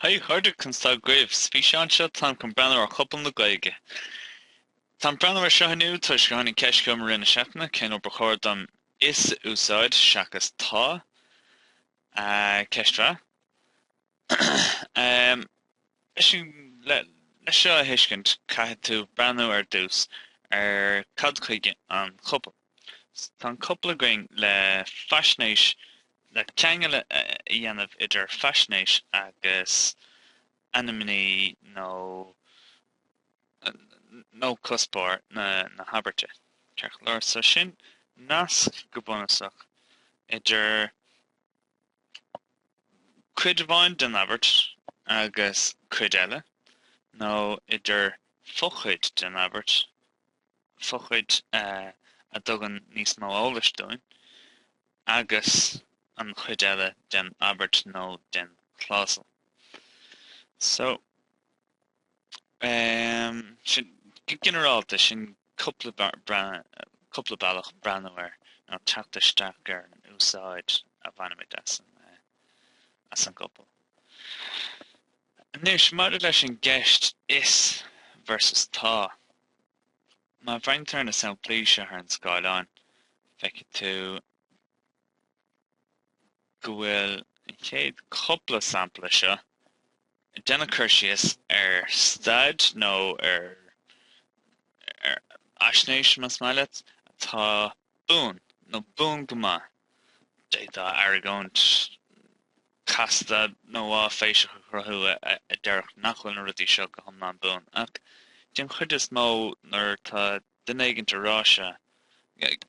Haigh a chairde, conas tá agaibh? Is mise Seán anseo, táim chun breathnú ar chopail na Gaeilge. Táim ag breathnú ar seo inniu toisc gur tháinig ceist chugam i rith na seachtaine cén uair ba chóir dom 'is' a úsáid seachas 'tá'. Ceist mhaith. Le seo a thuiscint caithfidh tú breathnú ar dtús ar cad chuige an chopail. Tá an chopail againn le faisnéis, le ceangal a dhéanamh idir faisnéis agus ainmní nó cuspóir na habairte. Ceart go leor, so sin? Nasc go bunúsach idir cuid amháin den abairt agus cuid eile nó idir fochuid den abairt fochuid a dtugann níos mó eolais dúinn agus an chuid eile den abairt nó den chlásal. So, em, sin, go ginearálta, sin cúpla bealach breathnú air nó teacht isteach ar an úsáid a bhainimid as an, eh, as an gcopail. Anois, maidir leis an gceist is versus tá, Má bhreathnaítear na samplaí seo ar an scáileán, feicfidh tú go bhfuil an chéad chúpla sampla seo ag déanamh cur síos ar staid nó ar fhaisnéis, más maith leat, atá Buan nó buan go maith. D'fhéadfá argóint chasta nó áiféiseach a chruthú a déarfadh nach bhfuil na rudaí seo go hiomlán buan, ach den chuid is mó nuair atá duine éigin ag rá seo,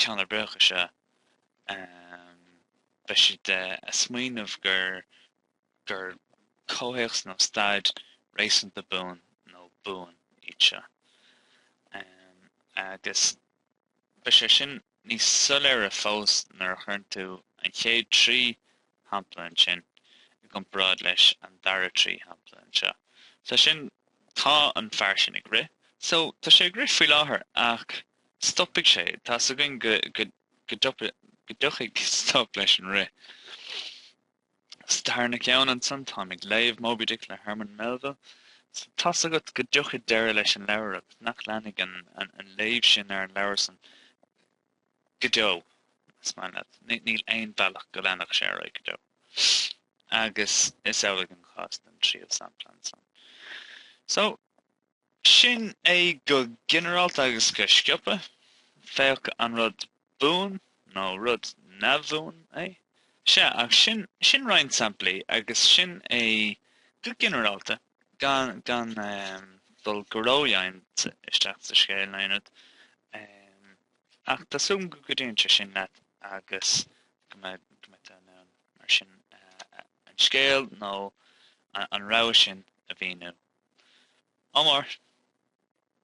ceann ar bith acu seo, beidh siad ag smaoineamh gur gur comhthéacs nó staid réasúnta buan nó buan iad seo. Agus Beidh sé sin níos soiléire fós nuair a chuireann tú an chéad trí shampla ansin i gcomparáid leis an dara trí shampla anseo. Tá sin, tá an fear sin ag rith. So, tá sé ag rith faoi láthair ach stopfaidh sé, tá a fhios againn go dtiocfaidh stop leis an rith. Sa tarna ceann ansan táim ag léamh Moby Dick le Herman Melville. So tá a fhios agat go dtiocfaidh deireadh leis an leabhar agus nach leanfaidh an léamh sin ar an leabhar san go deo, más maith leat. Níl aon bhealach go leanfadh sé ar aghaidh go deo. Agus is amhlaidh an cás don tríú sampla ansan. So. Sin é go ginearálta agus go sciobtha, féach an rud buan nó rud neamhbhuan é. Sea, ach sin, sin roinnt samplaí agus sin é go ginearálta, gan, gan ehm, dul go ródhomhain isteach sa scéal, in ionad. Ehm, ach tá súil agam go gcuidíonn sé sin leat agus go mbeidh, go mbeidh tú in ann mar sin a, a, a. an scéal nó an rogha sin a mhíniú. Ádh mór.